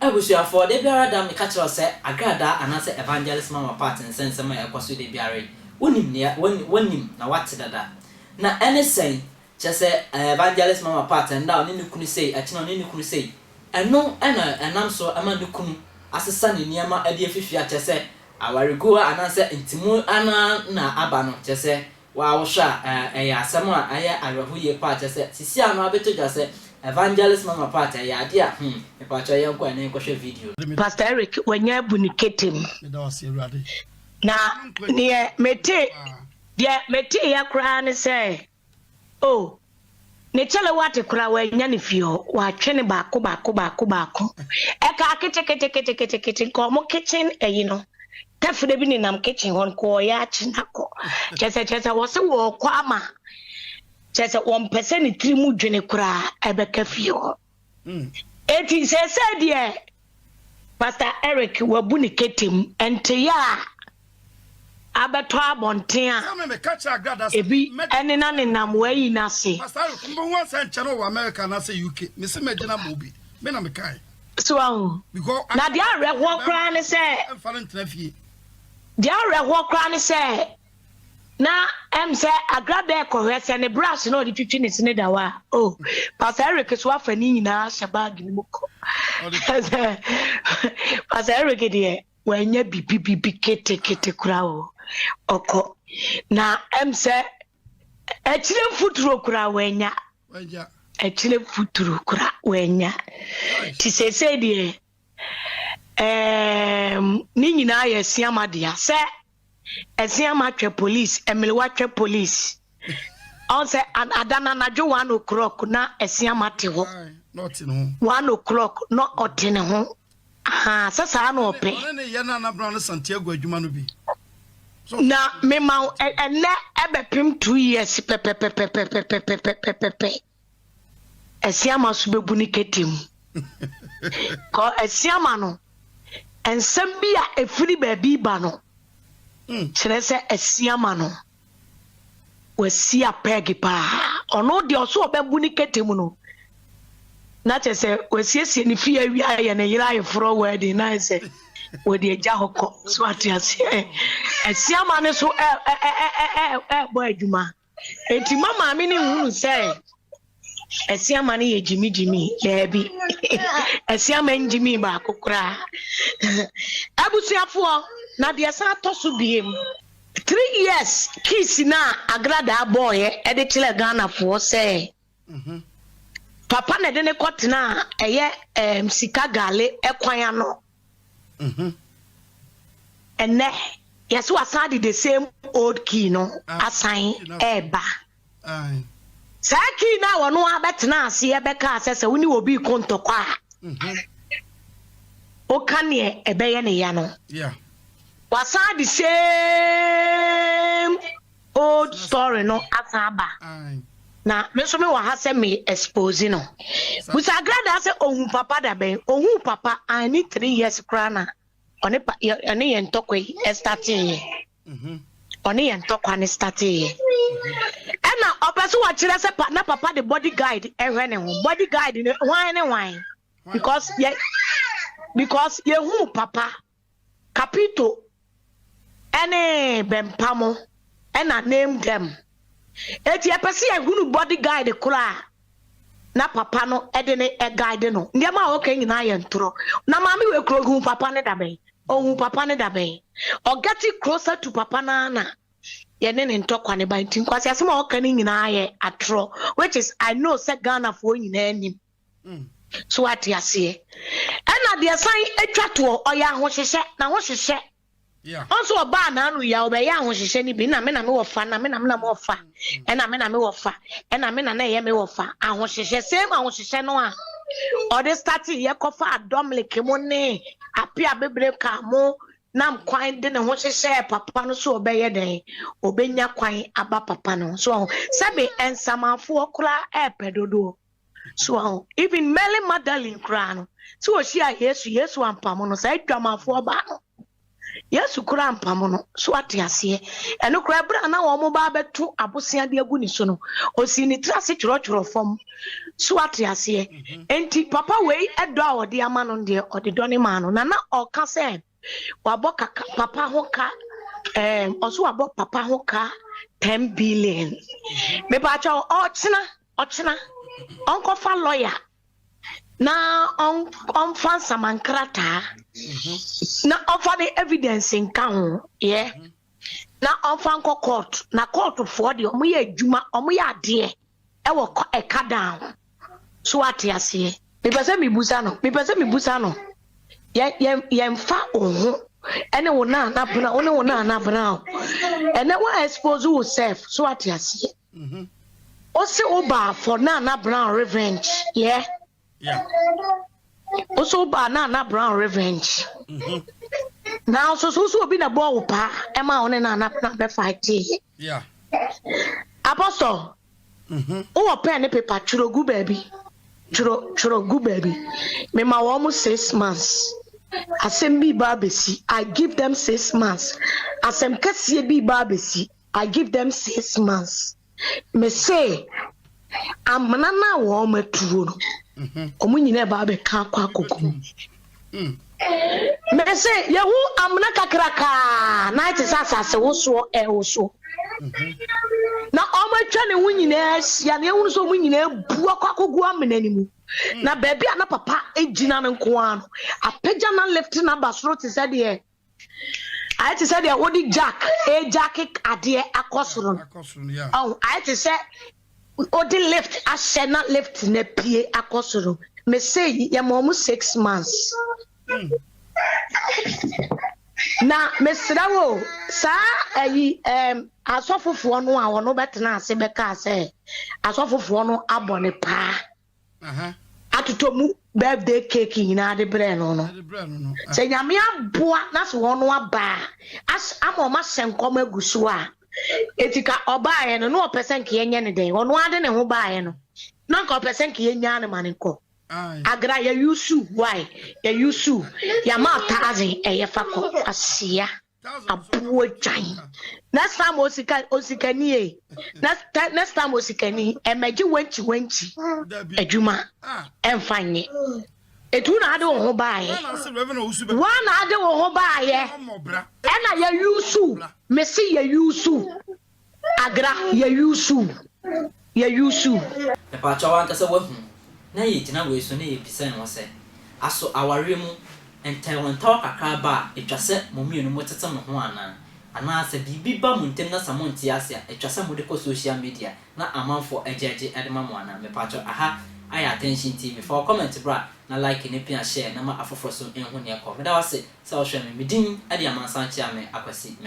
Abusuafoɔ, da biara da meka kyerɛ wo sɛ agradaa anaasɛ Evangelist Mama Pat nsɛnsɛm a ɛkɔ so da biara yi, wonim nea, wonim na woate dada. Na ɛne sɛn? Kyerɛ sɛ Evangelist Mama Pat ɛnnɛ a ɔne ne kunu sei, akyiri no ɔne ne kunu sei. Ɛno na ɛnam so ma ne kunu asesa ne nneɛma de afi fie a kyerɛ sɛ awaregu a anaasɛ ntimu no ara na aba no. Kyerɛ sɛ wo ara wohwɛ a ɛyɛ asɛm a ɛyɛ awerɛho yie paa. Kyerɛ sɛ sisi a no abɛtɔ dwa sɛ Evangelist Mama Pat ɛyɛ adeɛ a hmm, mepakyɛw yɛnkɔ ɛnnɛ yɛnkɔhwɛ video no. Pastor Eric wanya abu ne kete mu. Na deɛ metee, deɛ meteeɛ koraa ne sɛ Oh, ne kyɛlɛ wate koraa wanya ne fie hɔ, watwe ne baako baako baako baako. Ɛkaa kete kete kete kete kete nka ɔmo kitchen ɛyi no. Tɛfrɛ bi nenam kitchen hɔ nka ɔyɛ akye na kɔ. Kyɛ sɛ kyɛ sɛ wɔse wɔɔkɔ ama kyɛ sɛ wɔmpɛ sɛ ne tiri mu dwene koraa ɛbɛka fie hɔ. Enti seesei deɛ Pastor Eric wabu ne kete mu nteyɛ a abɛtɔ abɔnten a ebi nena nenam w'ayi no ase. So wahu? Na deɛ awerɛhoɔ koraa ne sɛ, deɛ awerɛhoɔ koraa ne sɛ, na ɛm sɛ agra dɛ kɔhwɛ sɛ ne brush na ɔde twitwi ne sene da hɔ a o oh, pastor eric so afa ne nyinaa hyɛ bag no mu kɔ pastor eric deɛ wanya bibi bibi ketekete kora o ɔkɔ na ɛm sɛ akyire mfuturo kora wanya akyire mfuturo kora wanya nti seesei deɛ Eeemm ne nyinaa yɛ asiama dea sɛ asiama twɛ police ɛmelewa twɛ police ɔn sɛ ada na anadwo one o'clock na asiama te hɔ one o'clock na ɔte ne ho ahaa sɛ saa na ɔpɛ na mema ɛnɛ ɛbɛpem two years pɛpɛpɛpɛpɛpɛpɛpɛpɛpɛ Asiama so bebu ne kete mu. Kɔ Asiama no, nsɛm bi a efiri baabi ba no hmm. kyerɛ sɛ Asiama no wasi apɛɛge paa. Ɔno deɛ ɔso ɔbɛbu ne kete mu no, na kyerɛ sɛ wasiesie ne fie awie ayɛ ne yere ayeforɔ wɛɛden na ayɛ sɛ wɔde agya hɔ kɔ so ate aseɛ. Asiama no so ɛɛbɔ adwuma. Eti ma maame no nhunu sɛ asiama no yɛ gyimigyimi daabi asiama ngyimi baako koraa abusuafoɔ na deɛ san tɔ so biem three years kiss na agradaa bɔɔyɛ ɛde kyerɛ ghanafoɔ sɛ Papa na ɛde no kɔtenaa ɛyɛ ɛɛm sika gale ɛkwan ano. Ɛnɛ yɛsɛ wasan de the same old key no ah, asan ɛɛba. Saa key no a wɔn abɛtena aseɛ bɛka asɛ sɛ wone obi ko ntɔkwa a. Mhm. Woka neɛ ɛbɛyɛ ne ya no. Wasan de same Old story no asan aba na me nso me wɔ ha sɛ me expose no. Busa Agradaa sɛ ohun papa da bɛn? Ohun papa an ne three years koraa na ɔne pa yɛ ɔne yɛn ntɔkwa yi ɛstate yɛ. Mhm. Ɔne yɛn ntɔkwa ne state yɛ. Ɛna ɔpɛ so wɔkyerɛ sɛ pa na papa de body guide ɛhwɛ ne ho. Body guide no hwan ne hwan? Because yɛ because yɛhuu papa. Capito ne Bempamo na Name Them. Enti yɛpɛ sɛ yɛhunu body guide koro a na papa no de ne guide no. Nneɛma a ɔka nyinaa yɛ ntorɔ. Na maame wei koro ɔhuu papa no da bɛn? Ɔhuu papa no da bɛn? Ɔ getting closer to papa no ara na yɛne ne ntɔkwa no ba. Nti nkwaseasɛm a ɔka no nyinaa yɛ atorɔ which is I know sɛ Ghanafoɔ nyinaa nim. So wate aseɛ? Ɛna deɛ san atwa toɔ, ɔyɛ ahohyehyɛ, na ho hyehyɛ. Ɔnso ɔbaa n'ano yi a, ɔbɛyɛ ahohyehyɛ no bi, na me na me wɔ fa, na me na me na me wɔ fa, ɛna me na me wɔ fa, ɛna me na na ɛyɛ me wɔ fa, ahohyehyɛ, same ahohyehyɛ no a ɔde start yɛ kɔfa adɔmleke mo ne ape abebere ka mo nam kwan de ne ho hyehyɛ papa no so ɔbɛyɛ dɛn ɔbɛnya kwan aba papa no so ɔho sɛbe nsamanfoɔ koraa ɛɛpɛ dodoɔ So wahu? Even Mary Magdalene koraa no, sɛ wɔhyiaa Yesu, Yesu ampamo no, saa adwamanfoɔ baa no. Yesu koraa ampamo no, so ate aseɛ. Ɛno koraa berɛ a na wɔn ba abɛto abosea de agu ne so no, ɔsii ne tiri ase twerɛtwerɛ fam. So ate aseɛ. Enti papa wei dɔ a ɔde ama no deɛ, ɔde dɔ ne maa no. Na na ɔka sɛ, wabɔ kaka papa ho ka ɛɛm um, ɔso wabɔ papa ho ka ten billion mepaakyɛ ɔkyena ɔkyena ɔnkɔfa lɔya na ɔnfa nsamankrataa mhm. na ɔfa ne evidence nka ho yɛ. Yeah. Mm -hmm. na ɔmfa nkɔ court na court foɔ deɛ ɔmo yɛ adwuma ɔmo yɛ adeɛ ɛwɔ ɛka dan ho so ate aseɛ. Mepɛ sɛ mebusa no mepɛ sɛ mebusa no yɛ yɛ yɛnfa wo ho ɛne wo naa na bena wo ne wo naa na bena o ɛnɛ wa expose wo self so ate aseɛ. Ose wo baa for naa na bena revenge yɛ. Yeah. Yeah. Also ba na na brown revenge. Mhm. Now so so so obi na bɔ wo pa ɛma wo ne na na na bɛ fight. Yeah. Apostle. Mhm. Wowɔ pen ne paper twerɛ gu baabi. Twerɛ twerɛ gu baabi. Mema wɔn mo six months. Asɛm bi ba abɛsi. I give them six months. Asɛm kɛseɛ bi ba abɛsi. I give them six months. Mese, amena no a wɔatuo no, mhm. wɔn nyinaa ba abɛka akɔ akoko mu. Mm. Mese, yɛhu amena kakrakaa na te sɛ asase wosoɔ ɛwoso. Mhm. Na wɔatwa ne ho nyinaa ahyia na yɛhunu sɛ wɔn nyinaa bu akɔ akogu amena no mu. Mm. Na baabi a na papa gyina no nko ara no, apagya na lifte no aba soro te sɛ deɛ Ayɛ te sɛ deɛ wode jack rejaake adeɛ akɔ soro no. Akɔ soro no ya. Ɔho, ayɛ te sɛ wode lift ahyɛ na lift no apue akɔ soro. Mese yi, yɛma wɔn six months. Mm. Na mesrɛ wo, saa ayi ɛɛm asɔfofoɔ no a wɔn bɛtena ase bɛkaa sɛ asɔfofoɔ no abɔ ne paa. atotɔ mu birthday cake nyinaa de brɛɛ no no, sɛ Nyame aboa na sɛ ɔno aba a, as ama ɔmo ahyɛ nkɔm agu so a, enti ka ɔbaeɛ no na ɔpɛ sɛ nka yɛnyɛ no dɛn? Ɔno ara de ne ho baeɛ no, na nka ɔpɛ sɛ nka yɛnyaa no ma no nkɔ. Agra, yɛyusu wo ae, yɛyusu wo, yɛama wo thousand, ɛyɛ fa kɔ, kwasea. aboagyan next time osika osikani e next time next time osikani ɛmɛgye wɛnkyi wɛnkyi adwuma ɛnfa nye etu na ade wo ho baayɛ wa na ade wo ho baayɛ ɛna yɛ yusu mesi yɛ yusu Agra yɛ yusu yɛ yusu. Mepakyɛw w'ankasa w'ahu na yɛ gyina wei so na yɛ bisa yɛn ho sɛ aso awareɛ mu ntawɔntaw kakra ba a ɛtwa sɛ mo mmienu mo tete mo ho anaa? Anaa sɛ biribi ba mo ntem na sa mo nte ase a ɛtwa sɛ mo de kɔ social media na amanfoɔ agyeagye de ma mo anaa? Mepakyɛw aha ayɛ attention TV fa wo comment bra na like ne pia share na ma afoforɔ so nhu neɛ kɔ. Meda wase. Sɛ ɔhwɛ me, me din de amansan kyea me akwasi me.